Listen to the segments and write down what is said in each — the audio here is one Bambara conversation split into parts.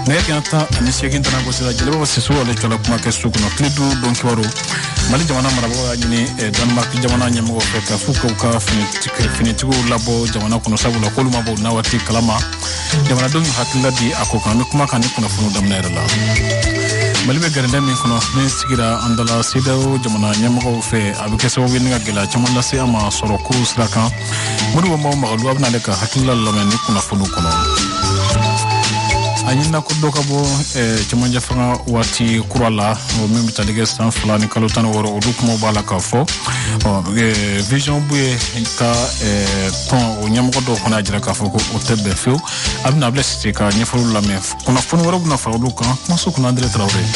nɛgɛ kanɲɛ tan ani seegin tɛna gosi la jeliba bɔ sisi ale cɔla kuma kɛ so kɔnɔ tile duuru don kibaru mali jamana marabagaw y'a ɲini eh, danmark jamana ɲɛmɔgɔw fɛ k'a fɔ k'u ka finitigiw labɔ jamana kɔnɔ sabula k'olu ma b'u na waati kalama jamanadenw y'u hakilila di a ko kan an bɛ kuma kan nin kunnafoniw daminɛ yɔrɔ la mali bɛ gɛrɛndɛ min kɔnɔ min sigira an da la cedeao jamana ɲɛmɔgɔw fɛ a bɛ kɛ sababu ye ni ka gɛlɛya caman lase an ma sɔrɔko sira kan modibo mawo makalu a bɛn'ale ka hakilila lamɛn nin kunnafoniw kɔnɔ a ɲinina ko dɔ ka bɔ eh, cɛmancɛ fanga waati kura la min bɛ tali kɛ san fila ni kalo tan ni wɔɔrɔ olu kumaw b'a la k'a fɔ eh, vision buye ka eh, tɔn o ɲɛmɔgɔ dɔw fana y'a jira k'a fɔ ko o tɛ bɛn fewu a bɛna abulayi sise ka ɲɛfɔliw lamɛn kunnafoni wɛrɛ bɛna fara olu kan kumaso kunna andre tarawele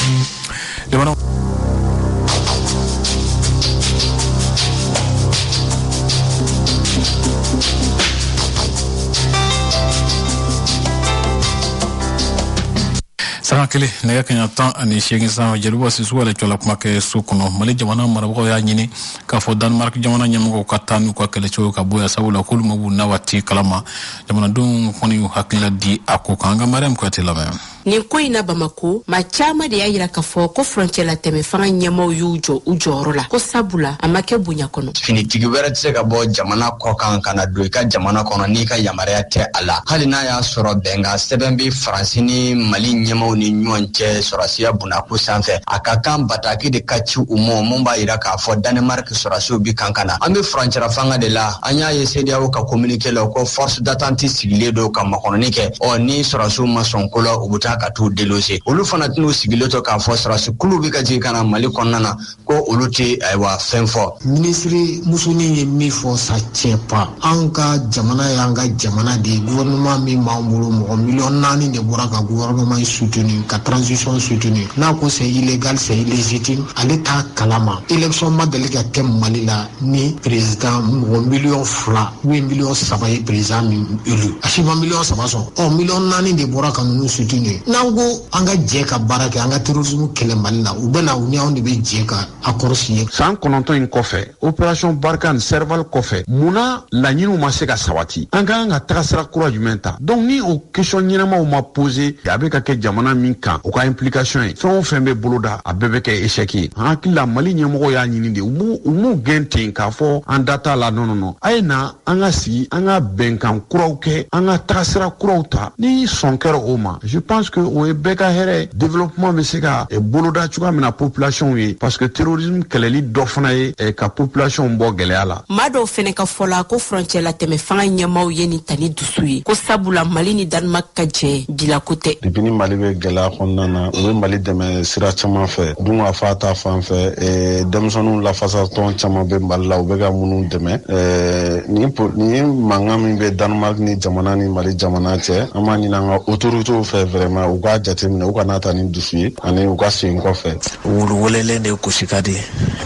sanga kelen nɛgɛ kanɲɛ tan ani seegin san jeliba sisu yɛrɛ cɔla kuma kɛ so kɔnɔ mali jamana marabagaw y'a ɲini k'a fɔ danmark jamana ɲɛmɔgɔw ka taa n'u ka kɛlɛcɛw ka bɔ yan sabula k'olu ma b'u na waati kalama jamanadenw kɔni y'u hakilila di a ko kan an ka mariam kuyate lamɛn nin ko in na bamako maa caaman de y'a yira k'a fɔ ko furancɛla tɛmɛ fanga ɲɛmaw y'u jɔ u jɔyɔrɔ la ko sabula a ma kɛ bonya kɔnɔ finitigi wɛrɛ tɛ se ka bɔ jamana kɔ kan ka na don i ka jamana kɔnɔ n'i ka yamaruya tɛ a la hali n'a y'a sɔrɔ bɛnkan sɛbɛn bɛ faransi ni mali ɲɛmaw ni ɲɔgɔn cɛ sɔrasiya bonna ko sanfɛ a ka kan bataki de ka ci u ma mun b'a yira k'a fɔ danemark sɔrasiw bi kan ka na an bɛ furancɛla fanga de la an y'a ye cedeao ka kominike la ko force d'attente sigilen don ka makɔnɔni kɛ ɔ ni sɔrasiw ma sɔn ko la u bɛ taa ka t'u déloger olu fana tɛn'u sigilen to k'a fɔ sɔrasi kulu bɛ ka jigin ka na mali kɔnɔna na ko olu tɛ ayiwa fɛn fɔ minisiri musonin ye min fɔ sa je sais pas an ka jamana y'an ka jamana de ye gouvernement min b'an bolo mɔgɔ miliyɔn naani de bɔra ka gouvernement in soutenu ka transition soutenu n'a ko c'est illégal c'est illégitime ale t'a kalama élection ma deli ka kɛ mali la ni président mɔgɔ miliyɔn fila u ye miliyɔn saba ye président min élu a si ma miliyɔn saba sɔrɔ ɔ miliyɔn naani de bɔra ka ninnu soutenu ye n'an ko an ka jɛ ka baara kɛ an ka terrorisme kɛlɛ mali la u bɛna u ni anw de bɛ jɛ ka a kɔrɔsi ye san kɔnɔntɔn in kɔfɛ opération barkhane serval kɔfɛ mun na laɲiniw ma se ka sabati an ka kan ka tagasira kura jumɛn ta donc ni o question ɲɛnamaw ma posé a bɛ ka kɛ jamana min kan o ka implication ye fɛn o fɛn bɛ boloda a bɛɛ bɛ kɛ échec ye an hakili la mali ɲɛmɔgɔw y'a ɲini de u m'u gɛn ten k'a fɔ an da t'a la non non non a ye na an ka sigi an ka bɛnkan kuraw kɛ an ka tagasira kuraw ta ni sɔn kɛra o ma je pense que o ye bɛɛ ka hɛrɛ développement bɛ se ka eh, boloda cogoya min na population ye parce que terrorisme kɛlɛli dɔ fana ye eh, ka population bɔ gɛlɛya la maa dɔw fɛnɛ ka fɔ la ko furancɛlatɛmɛ fanga ɲɛmaaw ye nin tali dusu su ye ko sabula mali ni danemark ka jɛ bi la ko tɛ depuis ni mali bɛ gɛlɛya kɔnɔna na u bɛ mali dɛmɛ sira caman fɛ dunkafa ta fan fɛ eh, denmisɛnninw lafasatɔn caman bɛ mali la u bɛ ka minnu dɛmɛ eh, nin po- nin mankan min bɛ danemark ni jamana ni mali jamana cɛ an b'a ɲini an ka otoritew fɛ vraiment u k'a jateminɛ u kan'a ta ni dusu ye ani u ka segin kɔfɛ wulu welelen de gosi ka di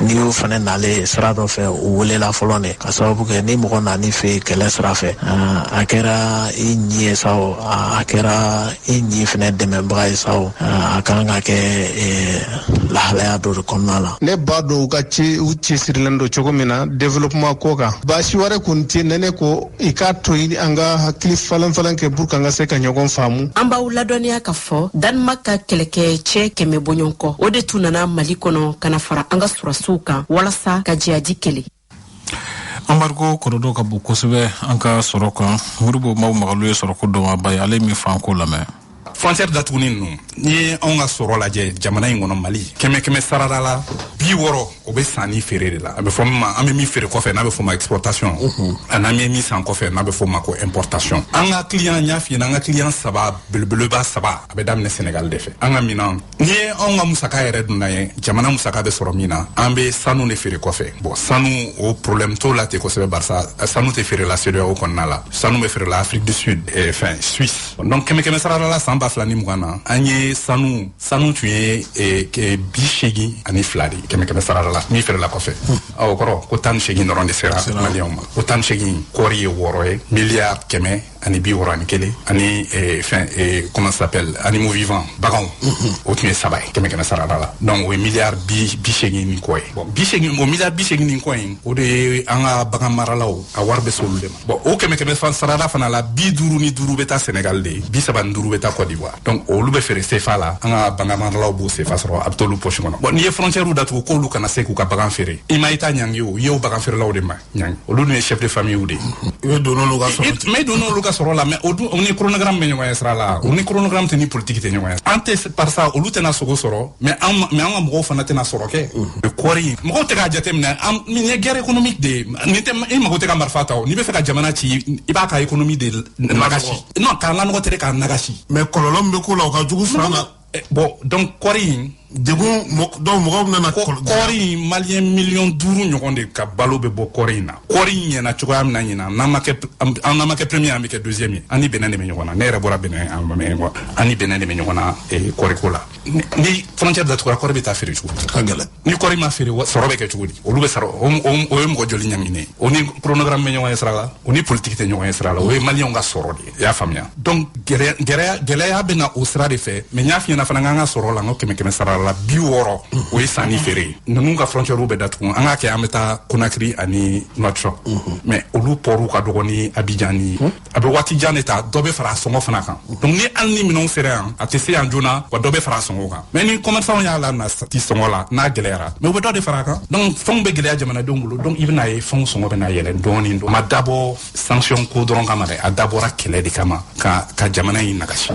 n'i y'o fana nalen ye sira dɔ fɛ o welela fɔlɔ de ka sababu kɛ ni mɔgɔ nan'i fɛ yen kɛlɛ sira fɛ ah, a kɛra i ɲi ye sa o ah, a kɛra i ɲi fana dɛmɛbaga ye sa o ah, a kan ka kɛ eh, lahalaya dɔ de kɔnɔna la. ne b'a dɔn u ka ci u cɛsirilen don cogo min na développement ko kan baasi wɛrɛ kɔni tɛ ne ne ko i k'a to ɲini an ka hakili falanfalan kɛ pour k'an ka se ka ɲɔgɔn faamu an b'aw ladɔnniya k'a fɔ danemark ka kɛlɛkɛcɛ kɛmɛ bɔɲɔnko o de tun nana mali kɔnɔ ka na fara an ka surasiw kan walasa ka jihadi kɛlɛ embargo kɔlɔlɔ ka bon kosɛbɛ an ka sɔrɔ kan modibo mao makalu ye sɔrɔko dɔnbaaba ye ale min f'an k'o lamɛn frontière datuguni ninnu n'i ye anw ka sɔrɔ lajɛ jamana in kɔnɔ mali kɛmɛ kɛmɛ sarada la bi wɔrɔ o bɛ san ni feere de la a bɛ fɔ min ma an bɛ min feere kɔfɛ n'a bɛ f'o ma exportation mhm. ani an bɛ min san kɔfɛ n'a bɛ f'o ma ko importation an ka client n y'a f'i ɲɛna an ka client saba belebeleba saba a bɛ daminɛ senegal de fɛ an ka minan n'i ye anw ka musaka yɛrɛ donda ye jamana musaka bɛ sɔrɔ min na an bɛ sanu de feere kɔfɛ bon sanu o problème t'o la ten kosɛbɛ barisa sanu tɛ feerela CEDEAO kɔnɔna la sanu bɛ feerela Afrique du Sud eh, fɛn Suisse donc kɛmɛ kɛmɛ sarada la san ba fila ni mugan na an ye sanu sanu tun ye eh, eh, bi seegin ani fila de kɛmɛ kɛmɛ sarada la min feerela kɔfɛ ɔ o kɔrɔ ko tan ni seegin dɔrɔn de sera maliyɛnw ma o tan ni seegin kɔɔri ye wɔɔrɔ ye miliyari kɛmɛ ani bi wɔɔrɔ ani kelen ani eh, fɛn eh, comment ça s'appelle animaux vivants baganw mhm. o tun ye saba ye kɛmɛ kɛmɛ sarada la donc o ye miliyari bi bi seegin ni kɔ ye bon bi seegin o miliyari bi seegin ni kɔ in o de ye an ka bagan maralaw a wari bɛ se olu de ma bon o kɛmɛ kɛmɛ sarada fana la bi duuru ni duuru bɛ taa senegal de bi saba ni duuru bɛ taa cote d'ivoire donc olu bɛ feere sefa la an ka bagan maralaw b'o sefa sɔrɔ a bɛ t'olu poche kɔnɔ bon n'i ye frontiɛriw datugu k'olu kana se k'u ka bagan feere i ma état ɲangi o i y'o bagan feerelaw de ma olu dun ye chef de famille de i bɛ don olu ka sɔrɔ la mais don olu ka sɔrɔ la mais o dun u ni chronogramme bɛ ɲɔgɔn ye sira la u ni chronogramme tɛ ni politique tɛ ɲɔgɔn ye an tɛ barisa olu tɛna sogo sɔrɔ mais an mais an ka mɔgɔw fana tɛna sɔrɔ kɛ o kɔɔri mɔgɔw tɛ k'a jateminɛ an nin ye guerre économique de ye nin tɛ i mago tɛ ka marifa ta o n'i bɛ fɛ ka jamana ci i b'a ka économie de nagasi non k'a lanɔgɔ tɛ k'a nagasi mais kɔlɔlɔ min bɛ k'o la o ka jugu fana na Eh, bon donc kɔri in degun donc mɔgɔw nana kɔri in maliyɛn miliyɔn duuru ɲɔgɔn de ka balo bɛ bɔ kɔri in na kɔri in ɲɛna cogoya min na ɲinan n'an ma kɛ an n'an ma kɛ premier an bɛ kɛ deuxième ye an ni bénin de bɛ ɲɔgɔn na ne yɛrɛ bɔra bénin a ma mɛn an ni bénin de bɛ ɲɔgɔn na kɔriko la ni frontière datugura kɔri bɛ taa feere cogo ka gɛlɛn ni kɔri ma feere sɔrɔ bɛ kɛ cogo di olu bɛ sara o ye mɔgɔ joli ɲaninen ye o ni chronogramme bɛ ɲɔgɔn ye sira la o ni politiki tɛ ɲɔgɔn ye sira la o ye maliyɛnw ka sɔrɔ de ye i y'a faamuya donc gɛlɛya bɛ na o sira de fɛ mɛ n y'a f'i ɲɛna fana k'an ka sɔrɔ la n ko kɛmɛ kɛmɛ sara la bi wɔɔrɔ o ye sanni feere ye ninnu ka frontiɛriw bɛ datugu an k'a kɛ an bɛ taa konakiri ani nouakchott mɛ olu pɔriw ka dɔgɔ ni abijan ni a bɛ waati jan de ta dɔ bɛ fara a sɔngɔ fana kan donc ni hali ni minɛnw sera yan a tɛ se yan joona wa dɔ bɛ fara a sɔngɔ kan mɛ ni kɔmɛrisanw y'a la na ti sɔngɔ la n'a gɛlɛyara mɛ u bɛ dɔ de fara a kan donc fɛnw bɛ gɛlɛya jamanadenw bolo donc i bɛna ye fɛnw sɔngɔ bɛna yɛlɛn dɔɔni a ma dabɔ sanction ko dɔrɔn kama dɛ a dabɔra kɛlɛ de kama ka jamana in nagasi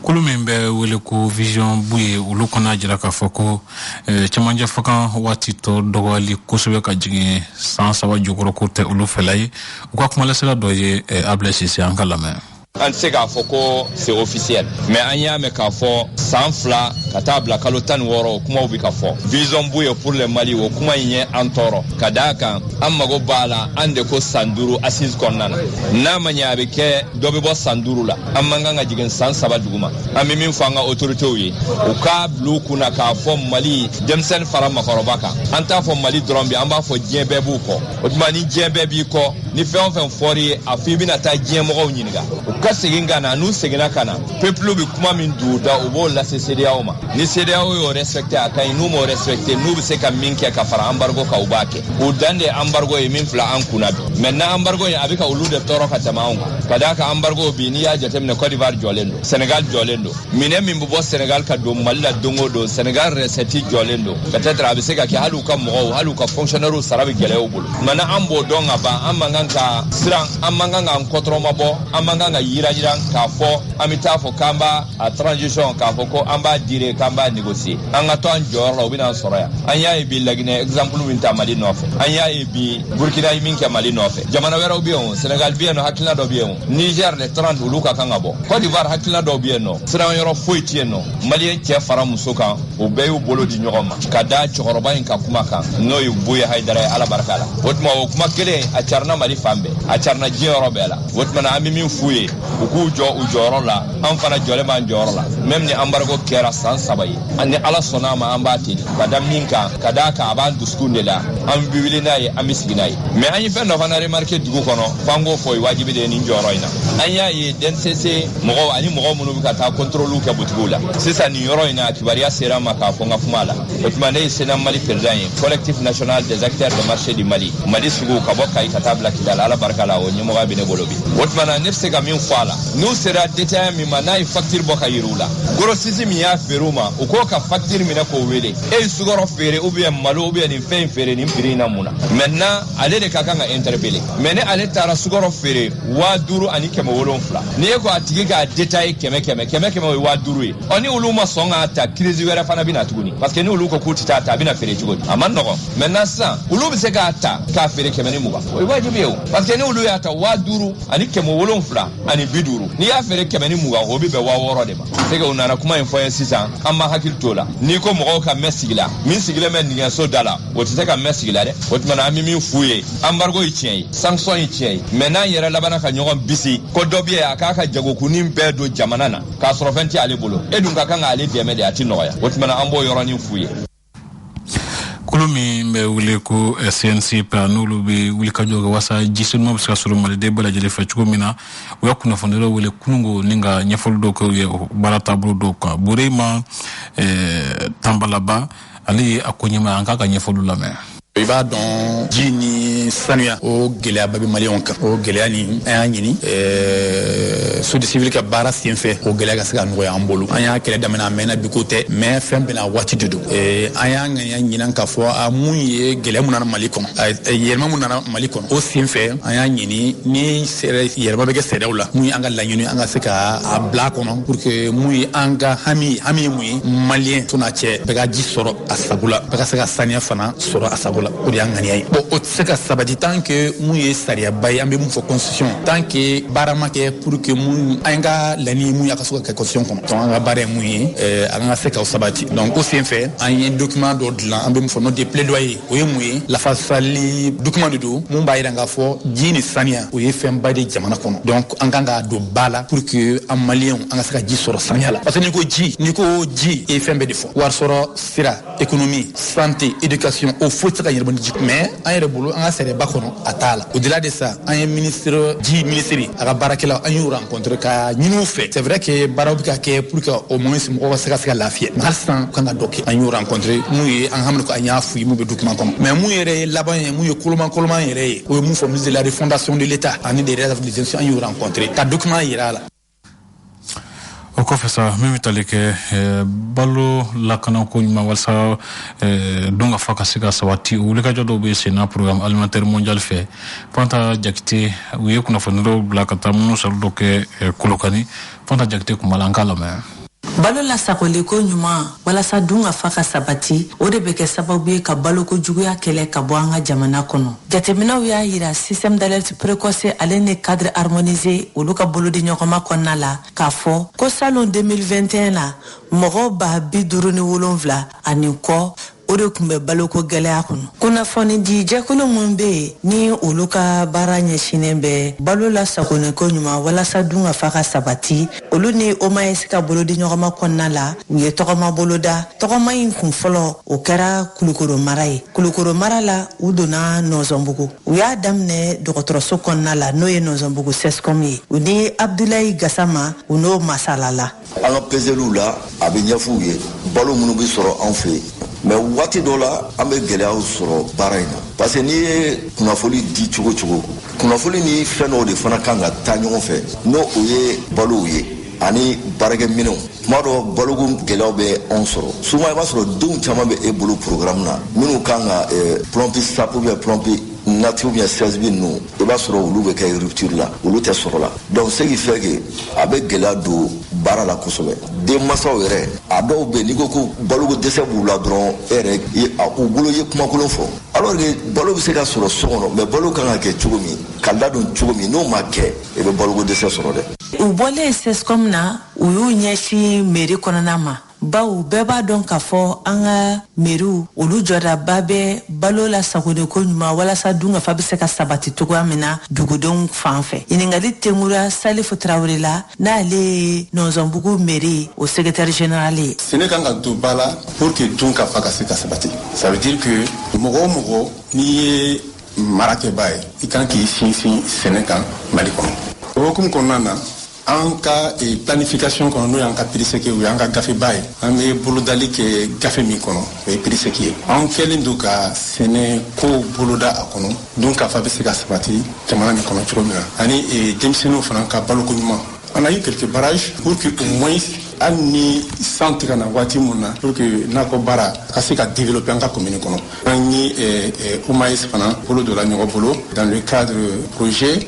kulu min bɛ wele ko vision buye olu kɔn'a jira k'a fɔ ko eh, cɛmancɛ fanga waati tɔ dɔgɔyali kosɛbɛ ka jigin san saba jukɔrɔ k'o tɛ olu fɛla ye u ka kumalasira dɔ ye eh, ablɛ sise an k'a lamɛn an tɛ se k'a fɔ ko c'est officiel mais an y'a mɛn k'a fɔ san fila ka taa bila kalo tan ni wɔɔrɔ o kumaw bɛ ka fɔ vision buye pour le mali o kuma in ye an tɔɔrɔ ka d'a kan an mago b'a la an de ko san duuru assise kɔnɔna na n'a ma ɲɛ a bɛ kɛ dɔ bɛ bɔ san duuru la an man kan ka jigin san saba duguma an bɛ min fɔ an ka otoritew ye u k'a bila u kun na k'a fɔ mali denmisɛnnin fara makɔrɔba kan an t'a fɔ mali dɔrɔn bi an b'a fɔ diɲɛ bɛɛ b'u kɔ o tuma ni diɲɛ bɛɛ b'i kɔ ni fɛn o fɛn fɔr'i ye a fɔ i bɛna taa diɲɛ mɔgɔw ɲininka u ka segin ka na n'u seginna ka na pepulu bɛ kuma min don u da u b'o lase sedeyaw ma ni sedeyaw y'o respecte a ka ɲi n'u m'o respecte n'u bɛ se ka min kɛ ka fara anbargo kan u b'a kɛ o dan de ambargo ye min filɛ an kunna bi maintenant ambargo ye a bɛ ka olu de tɔɔrɔ ka tɛmɛ anw kan ka d'a kan ambargo bi n'i y'a jateminɛ cote d'ivoire jɔlen don senegal jɔlen don minɛn min bɛ bɔ senegal ka don mali la don o don senegal resɛti jɔlen don peut-être a bɛ se ka kɛ hali u ka mɔgɔw hali u ka fonctionnaires sara bɛ gɛlɛya u bolo maintenant an b'o dɔn ka ban an man kan ka siran an man kan k'an kɔtɔrɔmabɔ an man kan ka yirayira k'a fɔ an bɛ taa fɔ k'an b'a a transition k'a fɔ ko an b'a dire k'an b'a négocier an ka to an jɔyɔrɔ la u bɛn'an sɔrɔ yan an y'a ye bi laginɛ exemple min ta mali nɔfɛ an y'a ye bi burkina ye min kɛ mali nɔfɛ jamana wɛrɛw bɛ yen o senegal bɛ yen nɔ hakilina dɔ bɛ yen o niger le 30 olu ka kan ka bɔ cote d'ivoire hakilina dɔw bɛ yen nɔ siran yɔrɔ foyi tɛ yen nɔ maliyɛn cɛ fara muso kan u bɛɛ y'u bolo di ɲɔgɔn ma ka da cɛkɔrɔba in ka kuma kan n'o ye buye hayidara ye ala barika la o tuma o kuma kelen a carina mali fan bɛɛ a carina diɲɛ yɔrɔ bɛɛ la o tuma na an bɛ min f'u ye u k'u jɔ u jɔyɔrɔ la an fana jɔlen b'an jɔyɔrɔ la mɛm ni anbargo kɛra san saba ye ni ala sɔnn'a ma an b'a tenir ka da mun kan ka d'a kan a b'an dusukun de la an bɛ wuli n'a ye an bɛ sigi n'a ye mɛ an ye fɛn dɔ fana remarke dugu kɔnɔ f'an k'o fɔ ye wajibi de ye nin jɔyɔrɔ in na an y'a ye dncc mɔgɔw ani mɔgɔw minnu bɛ ka taa kɔntoroliw kɛ butigiw la sisan nin yɔrɔ in na kibaruya sera n ma k'a fɔ n ka kuma la o tuma ne ye cnam mali perezidan ye collectif national des acteurs de marché du mali mali sugu ka bɔ kayi ka taa bila kidala ala barika la o ɲɛmɔgɔya bɛ ne bolo bi o tuma na ne bɛ se ka min fɔ a la n'u sera detaya min ma n'a ye fakitiri bɔ ka yiri u la gorosisi min y'a feere u ma u k'o ka fakitiri minɛ k'o wele e ye sukɔrɔ feere ubiyɛn malo ubiyɛn nin fɛn in feere nin piri in na mun na mɛntinan ale de ka kan ka ɛntɛrɛpele mɛ ni ale taara sukɔrɔ feere waa duuru ani kɛmɛ wolonfila ni e ko a tigi k'a detaye kɛmɛ kɛmɛ kɛmɛ kɛmɛ o ye waa duuru ye ɔ ni olu ma sɔn k'a ta kirizi wɛrɛ fana bɛ na tuguni parce que ni olu ko k'u tɛ taa ta a bɛna feere cogo di a man nɔgɔn mɛntinan sisan olu bɛ se k'a ta k'a feere kɛmɛ ni mugan o ye wajibi ye o parce que ni olu y'a ta waa duuru ani kɛmɛ wolonfila ani bi duuru n'i y'a feere kɛmɛ ni mugan o bɛ bɛn waa wɔɔrɔ de ma c'est que u nana kuma in fɔ ye sisan an ma hakili t'o la n'i ko mɔgɔw ka mɛn sigi la min sigilen bɛ nigɛso da la o tɛ se ka mɛn sigi la dɛ o tuma na an bɛ min f'u ye anbargo ye tiɲɛ ye sanction ye tiɲɛ ye mɛ n'an yɛrɛ labanna ka ɲɔgɔn bisi ko dɔ bɛ yen a k'a ka jagokunnin bɛɛ don jamana na k'a sɔrɔ fɛn tɛ ale bolo e dun ka kan k'ale dɛmɛ de a tɛ nɔgɔya o tuma na an b'o yɔrɔnin f'u ye kulu min bɛ wele ko eh, cn-ciepa n'olu bɛ wulikajɔ kɛ wasa ji senuman bɛ se ka sɔrɔ maliden bɛɛ lajɛlen fɛ cogo min na u ye kunnafonidilaw wele kunun ko nin ka ɲɛfɔli dɔw kɛ u ye baara taabolo dɔw kan burema eh, tanbalaba ale ye a ko ɲɛmaa an k'a ka ɲɛfɔliw lamɛn i b'a dɔn ji ni sanuya o gɛlɛyaba bɛ maliyɛnw kan o gɛlɛya nin an y'a ɲini eh, sosiyete sivili ka baara sen fɛ o gɛlɛya ka se ka nɔgɔya an bolo an y'a kɛlɛ daminɛ a mɛnna bi ko tɛ mɛ fɛn bɛɛ n'a waati de don eh, an y'a ŋaniya ɲinan k'a fɔ a mun ye gɛlɛya mun nana mali kɔnɔ eh, yɛlɛma mun nana mali kɔnɔ o sen fɛ an y'a ɲini ni yɛlɛma bɛ kɛ sariyaw la mun ye an ka laɲini an ka se ka a bila kɔnɔ pour que mun ye an ka hami hami ye mun ye maliyɛn to n'a cɛ bɛɛ ka ji sɔrɔ a sago la bɛɛ ka se ka saniya fana sɔrɔ a sago la o de y'an ŋaniya ye bon o tɛ se ka sabati tant que mun ye sariyaba ye an bɛ mun fɔ constitution tant que baara ma kɛ pour que mun an ka laɲini ye mun ye a ka se ka kɛ constitution kɔnɔ donc an ka baara ye mun ye eh, an ka se k'o sabati donc o sen fɛ an ye document dɔ dilan an bɛ mun fɔ note de plaidoyer o ye mun ye lafasali document de don mun b'a jira k'a fɔ ji ni saniya o ye fɛnba de jamana kɔnɔ donc an kan k'a don ba la pour que an maliyɛnw an ka se ka ji sɔrɔ saniya la parce que n'i ko ji n'i ko ji i ye fɛn bɛɛ de fɔ warisɔrɔ sira ekonomi sante edikasiɔn o foyi tɛ se ka yiriwa ni ji mɛ an yɛrɛ bolo an ka sariyaba kɔnɔ a t'a la au-delà de ça an ye minisiri ji minisiri a ka baarakɛlaw an y'u rencontré k'a ɲini u fɛ c'est vrai que baaraw bɛ ka kɛ pour que au moins mɔgɔw ka se ka se ka lafiya mɛ hali sisan u kan ka dɔ kɛ an y'u rencontré mun ye an haminanko an y'a f'u ye mun bɛ dukuman kɔnɔ mɛ mun yɛrɛ ye laban ye mun ye koloman koloman yɛrɛ ye o ye mun fɔ ministre de la refondation de l'état ani des relations an y'u rencontré ka dukuman yira a la o kɔfɛ sa min bɛ tali kɛ eh, balo lakanako ɲuman walasa eh, dunkafa ka se ka sabati o wulikajɔ dɔw bɛ senna programme alimentaire mondial fɛ fanta jakite u ye kunnafonidilaw bila ka taa munumunusaalo dɔ kɛ eh, kolokani fanta jakite tun b'a la an k'a lamɛn Balo lasagoliko ɲuman walasa dunkafa ka sabati, o de bɛ kɛ sababu ye ka baloko juguya kɛlɛ ka bɔ an ka jamana kɔnɔ. Jateminɛw y'a yira système d'alerte précoce ale ni cadre harmonisé olu ka bolodiɲɔgɔnma kɔnɔna la k'a fɔ ko salon 2021 la, mɔgɔ ba bi duuru ni wolonfila ani kɔ o de kun bɛ baloko gɛlɛya kɔnɔ kunnafonidi jɛkulu minnu bɛ yen ni olu ka baara ɲɛsinnen bɛ balo lasagoniko ɲuman walasa dunkafa ka sabati olu ni OMAES ka bolodi ɲɔgɔnma kɔnɔna la u ye tɔgɔma boloda tɔgɔma in kun fɔlɔ o kɛra kulukoro mara ye kulukoro mara la u donna nɔnzɔnbugu u y'a daminɛ dɔgɔtɔrɔso kɔnɔna la n'o ye nɔnzɔnbugu CSCOM ye u ni abudulayi gasama u n'o masalala an ka pezeliw la a bɛ ɲɛf'u ye balo minnu bɛ sɔrɔ anw fɛ mais waati dɔ la an bɛ gɛlɛyaw sɔrɔ baara in na parce que n'i ye kunnafoli di cogo cogo kunnafoli ni fɛn dɔw de fana kan ka taa ɲɔgɔn fɛ n'o o ye balow ye ani baarakɛminɛnw tuma dɔ baloko gɛlɛyaw bɛ anw sɔrɔ souvent i b'a sɔrɔ denw caman bɛ e bolo programme na minnu kan ka eh, plumpy sup ou bien plumpy nut ou bien CSB ninnu i b'a sɔrɔ olu bɛ kɛ rupture la olu tɛ sɔrɔ la donc ce qui fait que a bɛ gɛlɛya don baara la kosɛbɛ denmansaw yɛrɛ a dɔw bɛ n'i ko ko baloko dɛsɛ b'u la dɔrɔn e yɛrɛ u bolo ye kumakolon fɔ alors que balo bɛ se ka sɔrɔ so kɔnɔ mais balo kan ka kɛ cogo min ka ladon cogo min n'o ma kɛ i bɛ baloko dɛsɛ sɔrɔ dɛ u bɔlen CSCOM na u y'u ɲɛsin mairie kɔnɔna ma bawo bɛɛ b'a dɔn k'a fɔ an ka mairiew olu jɔdaba bɛ balo lasagoniko ɲuman walasa dunkafa bɛ se ka sabati cogoya min na dugudenw fan fɛ ɲininkali tɛnkura salifu tarawele la n'ale ye nɔnzɔnbugu mairie o secrétaire général ye sɛnɛ kan ka don ba la pour que dunkafa ka se ka sabati ça veut dire que mɔgɔ o mɔgɔ n'i ye marakɛbaa ye i kan k'i sinsin sɛnɛ kan mali kɔnɔ o hukumu kɔnɔna na an ka eh, planification kɔnɔ n'o y'an ka PDSEC o y'an ka gafeba ye an bɛ bolodali kɛ gafe min kɔnɔ o ye PDSEC ye an kɛlen don ka sɛnɛkow boloda a kɔnɔ dunkafa bɛ se ka sabati jamana nin kɔnɔ cogo min na ani eh, denmisɛnninw fana ka baloko ɲuman on a eu quelques barrages pour que au moins hali ni san tɛ ka na waati mun na pour que nakɔbaara ka se ka développer an ka commune kɔnɔ an ni eh, OMAES fana bolo donna ɲɔgɔn bolo dans le cadre projet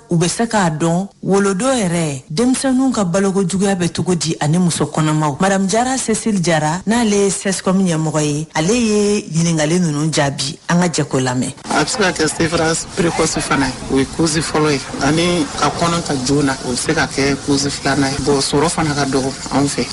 u bɛ se k'a dɔn wolodo yɛrɛ denmisɛnninw ka baloko juguya bɛ cogo di ani muso kɔnɔmaw madame jara cécile jara n'ale ye CSCOM ɲɛmɔgɔ ye ale ye ɲininkali ninnu jaabi an ka jɛ k'o lamɛn a bɛ se ka kɛ sevrage précoce fana ye o ye cause fɔlɔ ye ani ka kɔnɔ ta joona o bɛ se ka kɛ cause filanan ye bon sɔrɔ fana ka dɔgɔ anw fɛ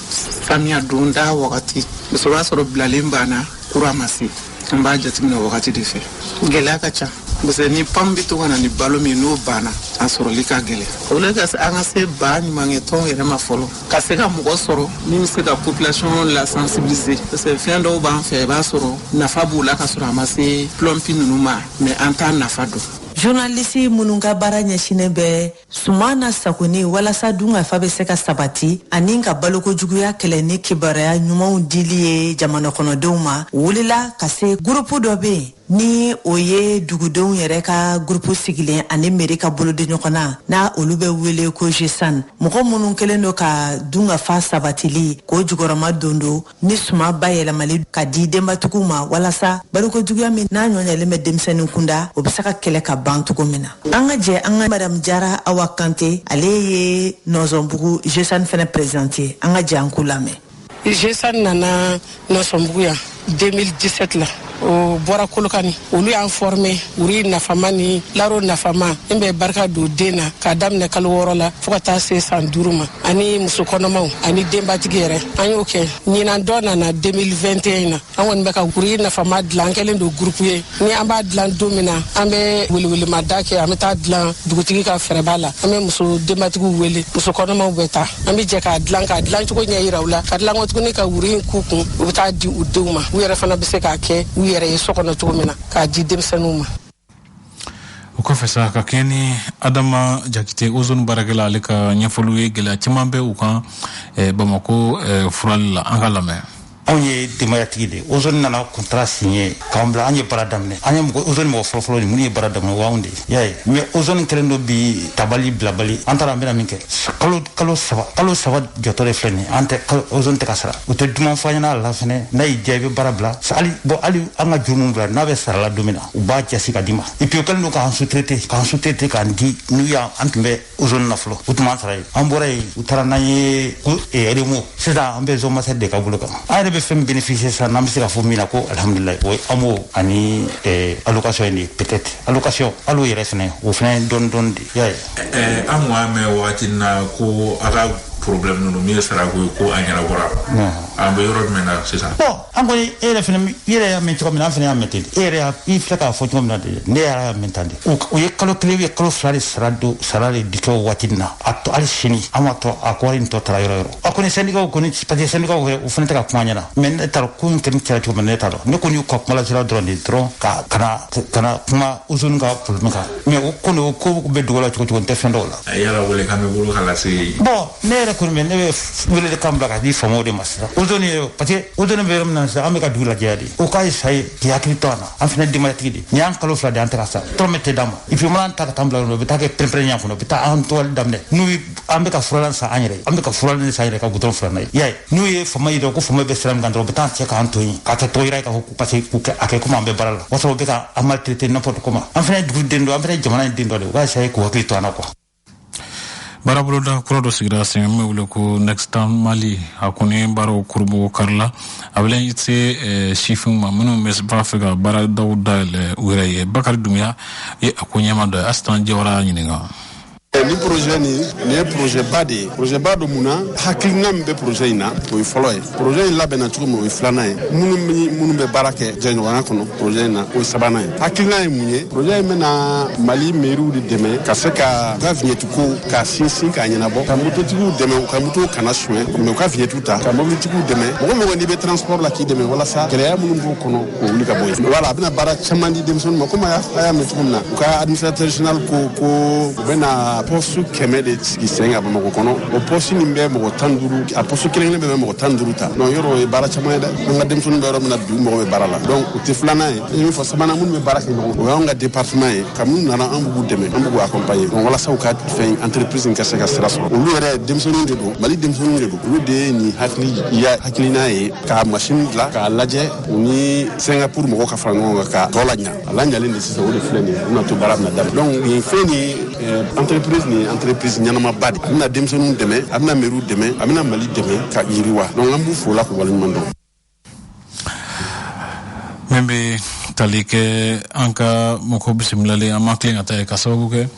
samiya donda wagati muso b'a sɔrɔ bilalen banna kura ma se an b'a jateminɛ wagati de fɛ gɛlɛya ka ca parce que ni pam bɛ to ka na ni balo min n'o banna a sɔrɔli ka gɛlɛn o la an ka se baɲumankɛtɔn yɛrɛ ma fɔlɔ ka se ka mɔgɔ sɔrɔ min bɛ se ka population la sensibiliser parce que fɛn dɔw b'an fɛ i b'a sɔrɔ nafa b'o la ka sɔrɔ a ma se plumpy ninnu ma mais an t'a nafa dɔn journaliste minnu ka baara ɲɛsinnen bɛ Suman nasagoni walasa dunkafa bɛ se ka sabati ani ka balokojuguya kɛlɛ ni kibaruya ɲumanw dili ye jamana kɔnɔdenw ma wulila ka se gurupu dɔ bɛ yen ni o ye dugudenw yɛrɛ ka gurupu sigilen ani mɛri ka bolodi ɲɔgɔn na n'a olu bɛ wele ko gesan mɔgɔ minnu kɛlen don ka dunkafa sabatili k'o jukɔrɔmadondon ni suman bayɛlɛmali ka di denbatigiw ma walasa balokojuguya min n'a ɲɔɲɛlen bɛ denmisɛnnin kunda o bɛ se ka kɛlɛ ka ban cogo min na an ka jɛ an ka madamu jara awa kante ale ye nɔsɔnbugu jesani fɛnɛ prezidante ye an ka jɛ an k'o lamɛn jesani nana nɔsɔnbugu yan 2017 la o bɔra kolokani olu y'an fɔrme wuri nafama ni laro nafama min bɛ barika don den na k'a daminɛ kalo wɔɔrɔ la fo ka taa se san duuru ma ani muso kɔnɔmaw ani denbatigi yɛrɛ an y'o kɛ ɲinan dɔ nana 2021 na an kɔni bɛ ka wuri nafama dilan an kɛlen don gurupu ye ni an b'a dilan don min na an bɛ welewelemada kɛ an bɛ taa dilan dugutigi ka fɛrɛba la an bɛ muso denbatigiw wele muso kɔnɔmaw bɛ taa an bɛ jɛ k'a dilan k'a dilan cogo ɲɛ yira u la k'a dilan tuguni ka wuri in k'u kun u bɛ taa di u denw ma u yɛrɛ fana bɛ se k'a kɛ u yɛrɛ ye so kɔnɔ cogo min na k'a di denmisɛnninw ma o kɔfɛ sa ka kɛɲɛ ni adama jakite ozone baarakɛla ale ka ɲɛfɔliw ye gɛlɛya caman bɛ u kan eh, bamako eh, furali la an k'a lamɛn anw ye denbayatigi de ozone nana contrat signer k'an bila an ye baara daminɛ an ye mɔgɔ ozone mɔgɔ fɔlɔfɔlɔ de minnu ye baara daminɛ o y'anw de y'a ye mais ozone kɛlen don bi tabali bilabali an taara an bɛna min kɛ kalo kalo saba kalo saba jɔtɔ de filɛ nin an tɛ ozone tɛ ka sara u tɛ duman fɔ an ɲɛna a la fɛnɛ n'a y'i diya i bɛ baara bila hali bon hali an ka juru min b'i la n'a bɛ sarala don min na u b'a jasi ka d'i ma et puis o kɛlen don k'an sous-traiter k'an sous-traiter k'an di n'u y'an an tun bɛ ozone na fɔlɔ u tun b'an sara yen an bɔra yen u taara n'an ye ko RMO eh, sisan an bɛ zone master de ka bolo kan an yɛrɛ bɛ fɛn bénéficier sisan n'an bɛ se ka fɔ min na ko alhamdulilayi o ye amo ani eh, allocation ye de peut-être allocation hali o yɛrɛ fɛnɛ o fɛnɛ ye dɔɔni dɔɔni de y'a ye eh, an kun y'a mɛn wagati na ko a ka problème ninnu min ye sarako ye ko a ɲɛnabɔra an bɛ yɔrɔ jumɛn na sisan an kɔni e yɛrɛ fana i yɛrɛ y'a mɛn cogo min na an fana y'a mɛn ten e yɛrɛ i filɛ k'a fɔ cogo min na de ne y'a mɛn tan de o ye kalo kelen ye kalo fila de sara don sara de di kɛ o waati min na a tɔ hali sini an ma tɔ a kɔɔri nin tɔ taara yɔrɔ yɔrɔ a kɔni sɛndikaw kɔni parce que sɛndikaw yɛrɛ o fana tɛ ka kuma ɲɛna mais ne t'a dɔn ko in kɔni kɛra cogo min na ne t'a dɔn ne kɔni y'u ka kuma lasira dɔrɔn de dɔrɔn ka kana kana kuma ozone ka problème kan mais o kɔni o ko bɛ dugu la cogo cogo n tɛ fɛn dɔn o la a yala wele kan b'i bolo ka lase bon ne yɛrɛ kɔni bɛ ne bɛ wele de kan bila ka di faamaw de ma sisan ozone ye parce que ozone bɛ yɔrɔ min na sisan an bɛ ka dugu lajɛya de o k'a essayer k'i hakili to an na an fana denbayatigi de nin y'an kalo fila de an tɛ ka sara dɔrɔmɛ tɛ d'an ma et puis mana ta ka taa bila yɔrɔ o bɛ taa kɛ pɛrɛnpɛrɛn yan kɔnɔ o bɛ taa an tɔgɔli daminɛ n'u an bɛ ka furalan san an yɛrɛ an bɛ ka furalan san yɛrɛ ka gudɔrɔn furan n'a ye y'a ye n'u ye faama ye dɔrɔn ko faama bɛ sira min kan dɔrɔn u bɛ taa cɛ k'an to yen k'a kɛ tɔgɔ jira ye k'a fɔ ko parce que k'u kɛ a kɛ komi an bɛ baara la o y'a sɔrɔ u bɛ ka an maltraiter n'importe comment an fana ye dugu den dɔ an fana ye jamana in den dɔ de u ka essayer k'u hakili to an na quoi baaraboloda kura dɔ sigira sen min bɛ wele ko nextan mali a kɔni baaraw kurunbonkarila a bɛ i se eh, sifinw ma minnu bɛ b'a fɛ ka baaradaw dayɛlɛ u yɛrɛ ye bakari dumuya ye a ko ɲɛmaa dɔ ye asitan jawara y'a ɲininka ni projet nin nin ye projetba de ye projetba don mun na hakilina min bɛ projet in na o ye fɔlɔ ye projet in labɛnna cogo min o ye filanan ye minnu ni minnu bɛ baara kɛ jɛɲɔgɔnya kɔnɔ projet in na o ye sabanan ye hakilina ye mun ye projet in bɛna mali meriw de dɛmɛ ka se ka u ka viɲɛtiko k'a sinsin k'a ɲɛnabɔ ka mototigiw dɛmɛ u ka motow kana suɲɛ mais u ka viɲɛtiw ta ka mobilitigiw dɛmɛ mɔgɔ mɔgɔ n'i bɛ transport la k'i dɛmɛ walasa gɛlɛya minnu b'o kɔnɔ k'o wuli ka bɔ yen voilà a bɛna baara caman di denmisɛnninw ma komi a y'a mɛn cogo min na u ka administrateur général ko ko u bɛna poste kɛmɛ de sigi sen ka bamakɔ kɔnɔ o poste nin bɛ mɔgɔ tan duuru a poste kelen kelen bɛ mɔgɔ tan duuru ta donc yɔrɔ o ye baara caman ye dɛ an ka denmisɛnninw bɛ yɔrɔ min na bi u mago bɛ baara la donc o de filanan ye n ye min fɔ sabanan minnu bɛ baara kɛ ɲɔgɔn o y'anw ka département ye ka minnu nana an b'u dɛmɛ an b'u accompagner donc walasa u ka fɛn entreprise in ka se ka sira sɔrɔ olu yɛrɛ denmisɛnninw de don mali denmisɛnninw de don olu de ye nin hakilina ye ka masini dilan k'a lajɛ u ni singapour mɔgɔw ka fara ɲɔgɔn kan k'a tɔ laɲa a laɲalen de sisan o de filɛ nin ye u na to baara bɛna daminɛ donc nin fɛn nin ye eh, entreprise nin ye entreprise ɲɛnamaba de a bɛna denmisɛnninw dɛmɛ a bɛna meriw dɛmɛ a bɛna mali dɛmɛ ka yiriwa donc an b'u fo o la k'u waleɲuman dɔn min bɛ tali kɛ an ka mɔgɔ bisimilalen an ma tilen ka taa yen ka sababu kɛ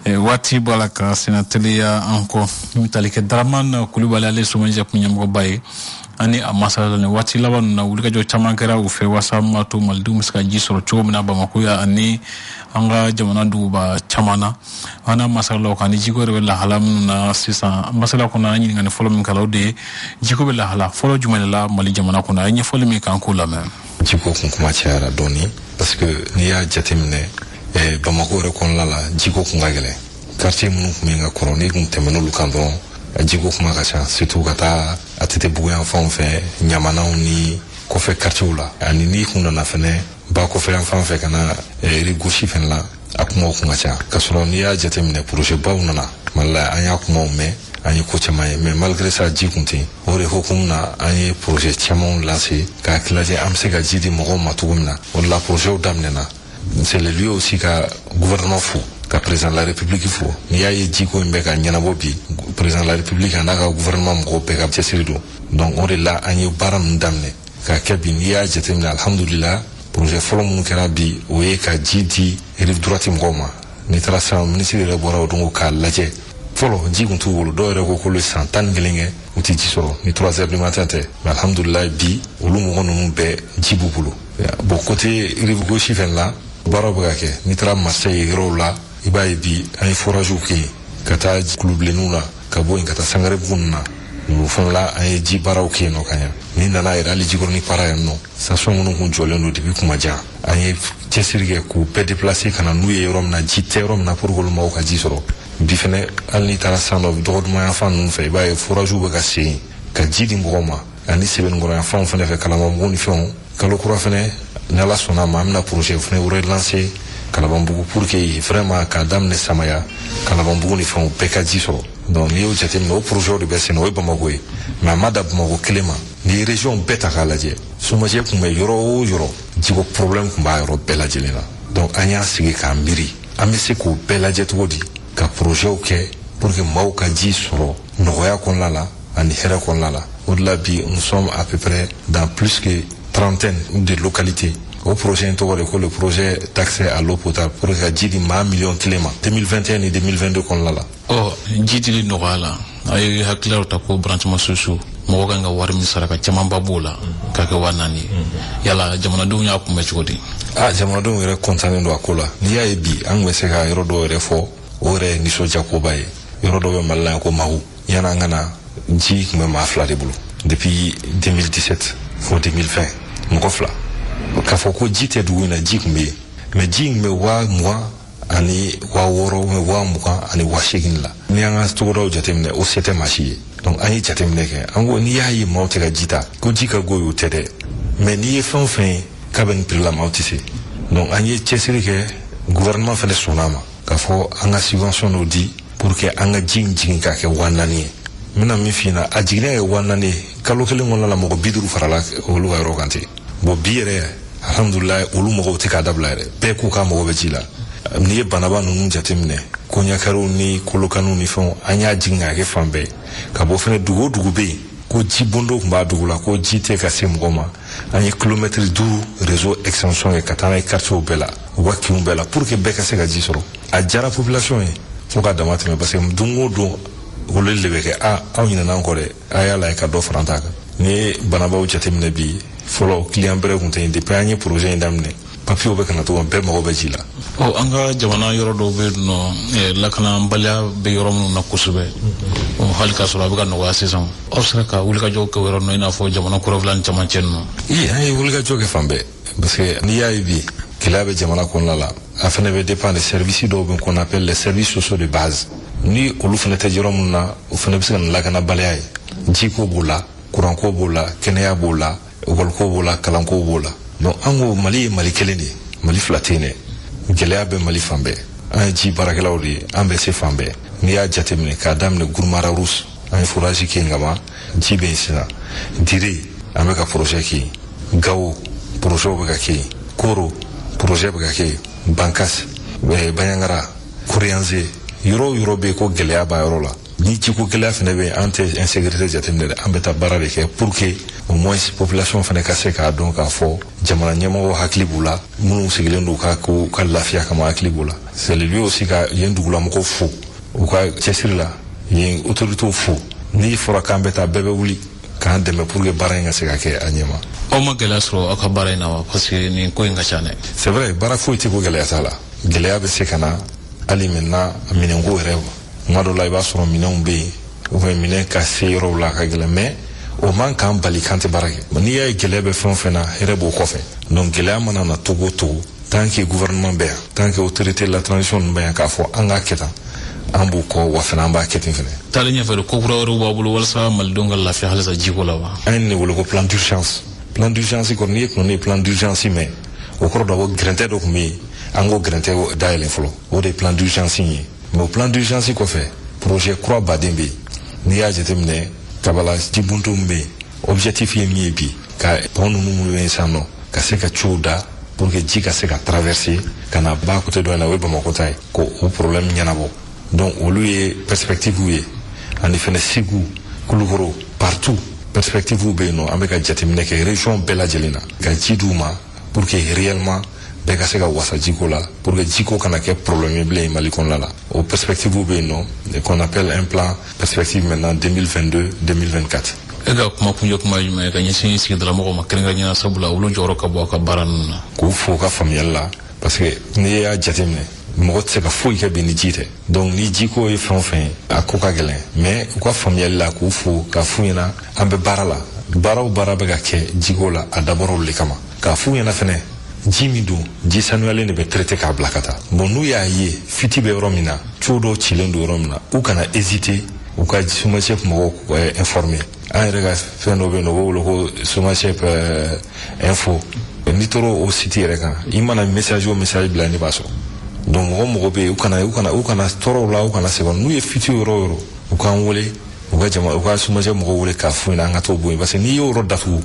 eh, waati b'a la ka sennateliya an kɔ min bɛ tali kɛ daramani kulubali ale somagep kun ɲɛmɔgɔba ye ani a masala ni waati laban ninnu na wulikajɔ caman kɛra u fɛ waasa min b'a to malidenw bɛ se ka ji sɔrɔ cogo min na bamako yan ani an ka jamana duguba caman na an n'a masalala o kan ni jiko yɛrɛ bɛ lahala minnu na sisan masala kɔnɔ an ɲininkali fɔlɔ min k'a la o de ye jiko bɛ lahala fɔlɔ jumɛn de la mali jamana kɔnɔ a ye ɲɛfɔli min kɛ an k'o lamɛn jiko kun kuma cayara dɔɔni parce que n'i y'a jateminɛ eh, bamako yɛrɛ kɔnɔna la jiko kun ka gɛlɛn quartier minnu kun bɛ ka kɔrɔ n'i kun tɛmɛn'olu kan dɔrɔn jiko kuma ka ca surtout ka taa atetebugu yanfanw fɛ ɲamanaw ni kɔfɛ quartierw la ani n'i kun nana fɛnɛ ba kɔfɛyanfan fɛ ka na eh, rive gauche fɛnɛ la a kumaw kun ka ca ka sɔrɔ n'i y'a jateminɛ projetbaw nana mali la an y'a kumaw mɛn an ye ko caman ye mais malgré ça ji kun tɛ yen o de hukumu na an ye projet camanw lancer k'a lajɛ an bɛ se ka ji di mɔgɔw ma cogo min na o de la projetw daminɛna C'est le lieu aussi ka gouvernement fo ka président de la république fo n'i y'a ye jiko in bɛ ka ɲɛnabɔ bi président de la république an'a ka gouvernement mɔgɔw bɛɛ ka cɛsiri don donc o de la an ye baara ninnu daminɛ ka kɛ bi n'i y'a jateminɛ alhamdulila projet fɔlɔ minnu kɛra bi o ye ka ji di rive droite mɔgɔw ma n'i taara sisan minisiri yɛrɛ bɔra o don k'a lajɛ fɔlɔ ji kun t'u bolo dɔw yɛrɛ ko k'olu san tan ni kelen kɛ u tɛ ji sɔrɔ ni trois heures du matin tɛ mais alhamdulilayi bi olu mɔgɔ ninnu bɛɛ ji b'u bolo bon côté rive gauche fɛnɛ la baaraw bɛ ka kɛ n'i taara marseille yɔrɔw la i b'a ye bi an ye foragew kɛ yen ka taa kulubilenniw na ka bɔ yen ka taa sangarebugu na o fana la an ye ji baaraw kɛ yen nɔ ka ɲa n'i nana yɛrɛ hali jikɔrɔni para yan nɔ station minnu kun jɔlen don depuis kuma jan an ye cɛsiri kɛ k'u bɛɛ déplacer ka na n'u ye yɔrɔ min na ji tɛ yɔrɔ min na pour que olu mɔgɔw ka ji sɔrɔ bi fɛnɛ hali n'i taara san dɔ dɔgɔduma yan fan ninnu fɛ i b'a ye foragew bɛ ka sen ka ji di mɔgɔw ma ani sɛbɛnnikɔrɔ yan fanw fɛnɛ fɛ kalabanbugu ni fɛnw kalo kura fɛnɛ ni ala sɔnna a ma an bɛna projet fɛnɛ relancer kalabanbugu pour que vraiment k'a daminɛ samaya kalabanbugu ni fɛnw bɛɛ ka ji sɔrɔ donc n'i y'o jateminɛ o projet de bɛ sen na o ye bamakɔ ye mais a ma da bamakɔ kelen ma n'i ye région bɛɛ ta k'a lajɛ somagep kun bɛ yɔrɔ o yɔrɔ jiko problème kun b'a yɔrɔ bɛɛ lajɛlen na donc an y'a sigi k'a miiri an bɛ se k'o bɛɛ lajɛ cogo di ka projetw kɛ pour que maaw ka ji sɔrɔ nɔgɔya kɔnɔna la ani hɛrɛ kɔnɔna la o de la bi nous sommes à peu près dans plus que trentaine de localités o projet in tɔgɔ de ko le projet d'accès à l'eau potable pour ka ji di maa miliyɔn kelen ma 2021 ni 2022 kɔnɔna la ɔ ji dili nɔgɔya la a ye hakililaw ta ko branchements sociaux mɔgɔ kan ka wari min sara ka camanba b'o la k'a kɛ waa naani ye yala jamanadenw y'a kunbɛn cogo di a jamanadenw yɛrɛ kɔntannen don a ko la n'i y'a ye bi an tun bɛ se ka yɔrɔ dɔw yɛrɛ fɔ o yɛrɛ ye nisɔndiyakoba ye yɔrɔ dɔ bɛ mali la yan ko mawu yann'an ka na ji kun bɛ maa fila de bolo depuis 2017 fo 2020 mɔgɔ fila k'a fɔ ko ji tɛ dugu in na ji tun bɛ yen mais ji tun bɛ waa mugan ani waa wɔɔrɔ mɛ waa mugan ani waa seegin la n'i y'an ka togodaw jateminɛ o se tɛ maa si ye donc an ye jateminɛ kɛ an ko n'i y'a ye maaw tɛ ka ji ta ko ji ka go y'o tɛ dɛ mais n'i ye fɛn o fɛn ye k'a bɛ nin prix la maaw tɛ se donc an ye cɛsiri kɛ gouvernement fɛnɛ sɔnna a ma k'a fɔ an ka subvention dɔ di pour que an ka ji in jigin k'a kɛ waa naani ye n bɛna min f'i ɲɛna a jiginnen ka kɛ waa naani ye kalo kelen kɔnɔna la mɔgɔ bi duuru farala olu ka yɔrɔ kan ten bon bi yɛrɛ alhamdulilayi olu mɔgɔw tɛ k'a dabila yɛrɛ bɛɛ ko k'u mago bɛ ji la n'i ye bananba ninnu jateminɛ koɲakariw ni kolokaniw ni fɛnw an y'a jigin k'a kɛ fan bɛɛ ka bɔ fɛnɛ dugu o dugu bɛ yen ko ji bondo kun b'a dugu la ko ji tɛ ka se mɔgɔ ma an ye kilomɛtiri duuru réseau extension kɛ ka taa n'a ye quartierw bɛɛ la u ka kinw bɛɛ la pour que bɛɛ ka se ka ji sɔrɔ a diyara population ye fo ka dama tɛmɛ parce que don o don weleli de bɛ kɛ a aw ɲinana an kɔ dɛ a y'a lajɛ ka dɔ fara an ta kan n'i ye bananbaw jateminɛ bi fɔlɔ client bɛrɛ kun tɛ yen depuis an ye projet in daminɛ papiyew bɛ ka na cogo bɛɛ mago bɛ ji la ɔ an ka jamana yɔrɔ dɔw bɛ yen nɔ eh, lakanabaliya bɛ yɔrɔ minnu na kosɛbɛ ɔ, hali k'a sɔrɔ a bɛ ka nɔgɔya sisan aw sera ka wulikajɔw kɛ o yɔrɔ ninnu i n'a fɔ jamana kɔrɔnfɛla ni camancɛ ninnu i an ye wulikajɔ kɛ fan bɛɛ parce que n'i y'a ye bi gɛlɛya bɛ jamana kɔnɔna la a fana bɛ dépend de service dɔw bɛ qu'on appelle les services sociaux de base ni olu fana tɛ yɔrɔ minnu na o fana bɛ se ka na lakanabaliya ye jiko b'o la kuranko b'o la kɛnɛya b'o la ekɔlikow b'o la kalankow b'o la donc an ko mali ye mali kelen de ye mali fila tɛ yen dɛ gɛlɛya bɛ mali fan bɛɛ an ye ji baarakɛlaw de ye an bɛ se fan bɛɛ n'i y'a jateminɛ k'a daminɛ guruma rarus an ye forage kɛ yen ka ban ji bɛ yen sisan dire an bɛ ka projet kɛ yen gawo projet bɛ ka kɛ yen koro projet bɛ ka kɛ yen bankasi banjagara koriyanze yɔrɔ o yɔrɔ bɛ yen ko gɛlɛya b'a yɔrɔ la ni jiko gɛlɛya fɛnɛ bɛ an tɛ insécurité jateminɛ dɛ an bɛ taa baara de kɛ pour que au moins population fana ka se k'a dɔn k'a fɔ jamana ɲɛmɔgɔ hakili b'u la minnu sigilen don u ka lafiya kama hakili b'u la c'est le lieu aussi ka yen dugulamɔgɔw fo u ka cɛsiri la yen autorités fo n'i fɔra k'an bɛ taa bɛɛ bɛ wuli k'an dɛmɛ pour que baara in ka se ka kɛ a ɲɛma aw ma gɛlɛya sɔrɔ aw ka baara in na wa parce que nin ko in ka ca dɛ c'est vrai baara foyi tɛ ko gɛlɛya t'a la gɛlɛya bɛ se ka na hali maintenant minɛnko yɛrɛ tuma dɔ la i b'a sɔrɔ minɛnw bɛ yen ou bien minɛn ka se yɔrɔw la ka gɛlɛn mais o man k'an bali k'an tɛ baara kɛ n'i y'a ye gɛlɛya bɛ fɛn o fɛn na hɛrɛ b'o kɔfɛ donc gɛlɛya mana na cogo o cogo tant que gouvernement bɛ yan tant que autorité de la transition ninnu bɛ yan k'a fɔ an k'a kɛ tan an b'u kɔ wa fana an b'a kɛ ten fana taalen ɲɛfɛ de ko kura wɛrɛw b'aw bolo walasa malidenw ka lafiya halisa jiko la wa an ye nin wele ko plan d'urgence plan d'urgence kɔni n'i ye kunna ne plan d'urgence mɛn o kɔrɔ dɔ ko gɛrɛntɛ dɔ tun bɛ yen an k'o gɛrɛntɛ dayɛlɛn fɔlɔ o de ye plan d'urgence in ye mais o plan d'urgence kɔfɛ projet kura ba de bɛ yen n'i y'a jateminɛ kabala jibondon min bɛ yen objectif ye min ye bi ka pont ninnu minnu bɛ yen sisan nɔ ka se ka tuyaux da pour que ji ka se ka traverser ka na ba côté dɔ in na o ye bamakɔ ta ye k'o problème ɲɛnabɔ donc olu ye perspective ye ani fɛnɛ segu kulukoro partout perspective bɛ yen nɔ an bɛ ka jateminɛ kɛ région bɛɛ lajɛlen na ka ji d'u ma pour que réellement bɛɛ ka se ka wasa jiko la pour que jiko kana kɛ problème ye bilen mali kɔnɔna la o perspective bɛ yen nɔ qu'on appelle un plan perspective maintenant 2022 2024 e ka kuma kuncɛ kuma ye jumɛn ye ka ɲɛsin sigidalamɔgɔw ma kɛrɛnkɛrɛnnenya la sabula olu jɔyɔrɔ ka bon aw ka baara ninnu na k'u fo u ka faamuyali la parce que n'i y'a jateminɛ mɔgɔ tɛ se ka foyi kɛ bi ni ji tɛ donc ni jiko ye fɛn o fɛn ye a ko ka gɛlɛn mais u ka faamuyali la k'u fo ka f'u ɲɛna an bɛ baara la baara o baara bɛ ka kɛ jiko la a dabɔr'olu le kama k'a f'u ɲɛna fɛnɛ ji min don ji sanuyalen de bɛ traité k'a bila ka taa bon n'u y'a ye fuite bɛ yɔrɔ min na tuyau dɔw cilen don yɔrɔ min na u kana hésiter u ka SOMAGEP mɔgɔw eh, informer an yɛrɛ ka fɛn dɔ bɛ yen nɔ u b'o wele ko SOMAGEP eh, info n'i taara o site yɛrɛ kan i mana message o message bila ne b'a sɔrɔ donc mɔgɔ mɔgɔ bɛ yen u kana u kana u kana tɔɔrɔ o la u kana sɛgɛn n'u ye fuite yɔrɔ o yɔrɔ u k'an wele u ka jama u ka SOMAGEP mɔgɔw wele k'a f'u ɲɛna an ka t'o bɔ yen parce que n'i y'o yɔrɔ datugu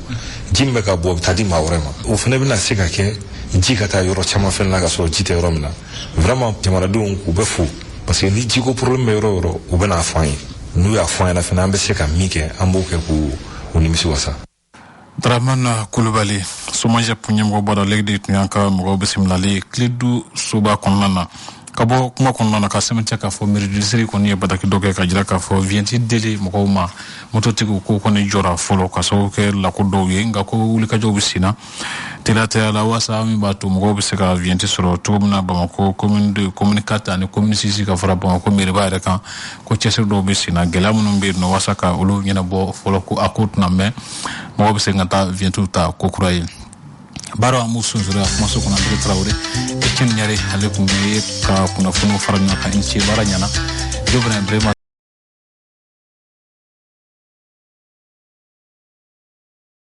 ji min bɛ ka bɔ a bɛ taa di maa wɛrɛ ma o fana bɛna se ka kɛ ji ka taa yɔrɔ caman fɛnɛ na ka sɔrɔ ji tɛ yɔrɔ min na vraiment jamanadenw k'u bɛɛ fo parce que ni jiko problème bɛ yɔrɔ o yɔrɔ u bɛna a fɔ an ye n'u y'a fɔ an ɲɛna fɛnɛ an bɛ se ka min kɛ an b'o kɛ k'u u nimisi wasa Dramana Kulubali SOMAGEP ɲɛmɔgɔba ale de tun y'an ka mɔgɔ bisimilalen Kiledu soba kɔnɔna na ka bɔ kuma kɔnɔna na ka sɛmɛntiya k'a fɔ mairie district kɔni ye bataki dɔ kɛ ka jira k'a fɔ viɲɛti dili mɔgɔw ma mototigiw ko kɔni jɔra fɔlɔ ka sababu kɛ lako dɔw ye nka ko wulikajɔw bɛ sen na teliya la waasa min b'a to mɔgɔw bɛ se ka viɲɛti sɔrɔ cogo min na bamakɔ commune commune quatre ani commune six ka fara bamakɔ mairieba yɛrɛ kan ko cɛsiri dɔw bɛ sen na gɛlɛya minnu bɛ yen nɔ walasa ka olu ɲɛnabɔ fɔlɔ ko a ko tɛna mɛɛn mɔgɔw bɛ se ka taa viɲɛtiw ta ko kura ye baara an b'u sunsoro a kumaso kɔnɔ André Tarawele Etienne Ɲare ale tun bɛ ka kunnafoniw fara ɲɔgɔn kan i ni ce baara ɲɛna jo fana brema